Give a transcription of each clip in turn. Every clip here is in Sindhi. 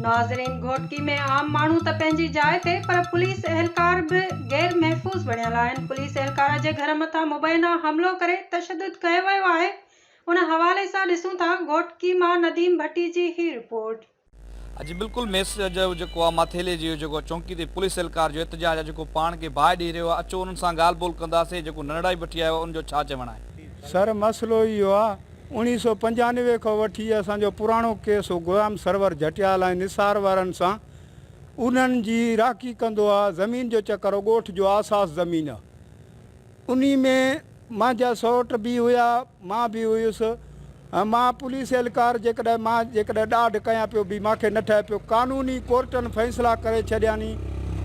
ناظرين گهوٽڪي ۾ عام ماڻهو ته پنهنجي جاء تي پر پوليس اهلڪار به غير محفوظ بڻيل آهن پوليس اهلڪار جي گهر مٿان مبينا حملو ڪري تشدد ڪيو ويو آهي ان حوالي سان ڏسون ٿا گهوٽڪي مان نديم ڀٽي جي هي رپورٽ. اڄ بلڪل ميس جو جيڪو آ ماٿيلي جي جيڪو چونڪي تي پوليس اھلڪار جو احتجاج آ جيڪو پاڻ کي باھه ڏيئي رھيو آ اچو انھن سان ڳالھ ٻولھ ڪنداسين جيڪو ننڙائي بٺي آيو آ ان جو ڇا چوڻ آھي. سر مسئلو اھو آ اوڻيھ سؤ پنجانوي کان وٺي اسان جو پراڻو ڪيس ھو غلام سرور جھٽيال ۽ نثار وارن سان انھن جي راھڪي ڪندو آ زمين جو چڪر ھو ڳوٺ جو آساس زمين آ انهي ۾ مانجا سئوٽ به هيا، مان به هيس ۽ مان پوليس اهلڪار جيڪڏهن مان جيڪڏهن ڏاڍ ڪيان پيو به مانکي نه ٺهي پيو. قانوني ڪورٽن فيصلا ڪري ڇڏياني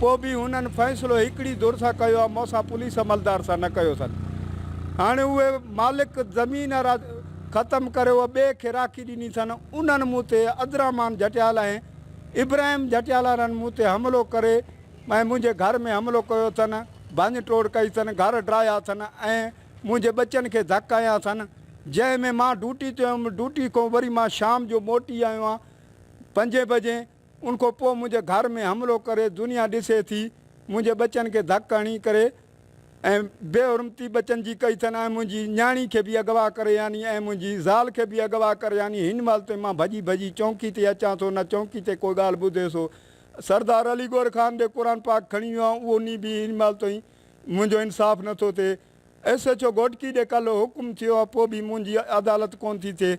پو به هنن فيصلو هڪڙي ڌر سان ڪيو ها مونسان پوليس عملدار سان نه ڪيو سن. هاڻي اهي مالڪ زمين را ختم ڪري اهي ٻئي کي راکي ڏني ٿن انهن مون تي عبدالرحمان جهٽيالا ۽ ابراهيم جهٽيالارن مون تي حملو ڪري ۽ منهنجي گهر ۾ حملو ڪيو اٿن، ڀڃ ٽوڙ ڪئي اٿن، گهر ڊاهيا اٿن ۽ منهنجي ٻچن کي ڌڪ هنيا اٿن، جنهن ۾ مان ڊوٽي تي هيم، ڊوٽي کان وري مان شام جو موٽي آيو آهيان پنجين بجي، ان کان پوء منهنجي گهر ۾ حملو ڪري دنيا ڏسي ٿي، منهنجي ٻچن کي ڌڪ هڻي ڪري ۽ بي حرمتي ٻچن جي ڪئي اٿن ۽ منهنجي نياڻي کي به اغوا ڪري هني ۽ منهنجي زال کي به اغوا ڪري هني، هن مهل تائين مان ڀڄي ڀڄي چونڪي تي اچان ٿو نه چونڪي تي ڪوئي ڳالهه ٻڌي سو سردار علي گوهر خان به قرآن پاڪ کڻي ويو آهيان اهو ني به هن مهل تائين منهنجو انصاف نه ٿو ٿئي ايس ايڇ او گهوٽڪي ڏي ڪلهه حڪم ٿيو آهي پوء به منهنجي عدالت ڪونه ٿي ٿئي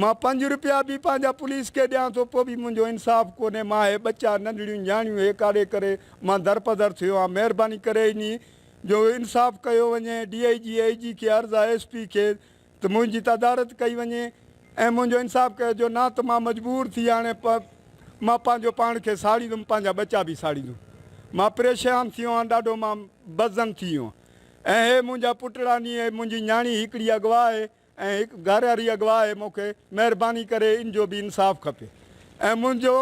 مان پنج روپيا به پنهنجا پوليس کي ڏيان ٿو پوء به منهنجو انصاف ڪونهي مان هي ٻچا ننڍڙيون نياڻيون هي ڪاڙي ڪري مان درپدر ٿيو آهيان مهرباني ڪري انهي جو انصاف ڪيو وڃي ڊي آئي جي اي جي کي عرض آهي ايس پي کي ته منهنجي تدارت ڪئي وڃي ۽ منهنجو انصاف ڪيو جو نه ته مان مجبور ٿي هاڻي پ مان پنهنجو پاڻ کي ساڙيندم پنهنجا ٻچا به ساڙيندم مان پريشان ٿي ويو آهيان ڏاڍو مان بزن ٿي ويو آهيان ۽ هي منهنجا پٽڙا ني هي منهنجي نياڻي هڪڙي اغوا آهي ۽ هڪ گهراري اغوا آهي مون کي مهرباني ڪري ان جو به انصاف کپي ۽ منهنجو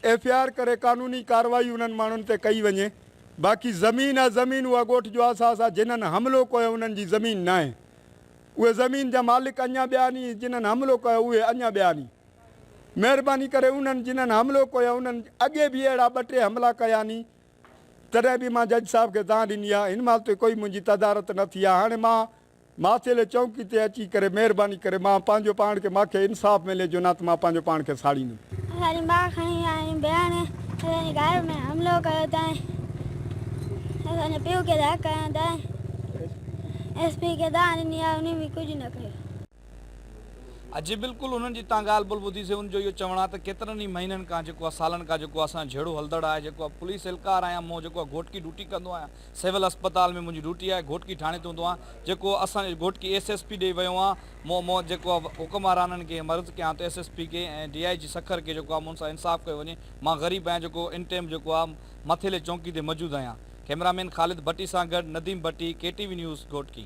ايف آر ڪري قانوني ڪارروائي انهن ماڻهن تي ڪئي وڃي باقي زمين آ زمين اها ڳوٺ جو احساس آ جنھن حملو ڪيو انهن جي زمين ناهي اهي زمين جا مالڪ اڃان ٻيا آھني جنھن حملو ڪيو اهي اڃان ٻيا آھني مهرباني ڪري انهن جنھن حملو ڪيو انهن اڳي به اهڙا ٻه ٽي حملا ڪيا ني تڏهن به مان جج صاحب کي دانھن ڏني آ هن مال تي ڪوئي منهنجي تدارت نه ٿي آ هاڻي مان ماٿيلي چونڪي تي اچي ڪري مهرباني ڪري مان پنهنجو پاڻ کي ماکي انصاف ملي جو نه ته مان پنهنجو پاڻ کي ساڙيندم. اسان جي ماء کڻي آيا ۽ بيان اسان جي گهر ۾ حملو ڪيو تائين اسان جي پيء کي ڌڪ هنيا تائين ايس پي کي دانهن ڏني آهي انهن به ڪجهه نه ڪيو. اجي بلڪل انهن جي تان ڳالهه بل ٻڌي سي ان جو اهو چوڻ آهي ته ڪيترن ئي مهينن کان جيڪو آهي سالن کان جيڪو آهي اسان جهڙو هلندڙ آهي جيڪو آهي پوليس اهلڪار آهيان مون جيڪو آهي گهوٽڪي ڊوٽي ڪندو آهيان سول اسپتال ۾ منهنجي ڊيوٽي آهي گهوٽڪي ٿاڻي تي هوندو آهيان جيڪو اسان جو گهوٽڪي ايس ايس پي ڏي ويو آهيان مون مون جيڪو آهي حڪمرانن کي مرض ڪيان ته ايس ايس پي کي ۽ ڊي آئي جي سکر کي جيڪو آهي مون سان انصاف ڪيو وڃي مان غريب آهيان جيڪو ان ٽيم جيڪو آهي مٿيلي چونڪي تي موجود آهيان ڪئميرا مين خالد ڀٽي سان گڏ Nadeem Bhatti K T V news Ghotki.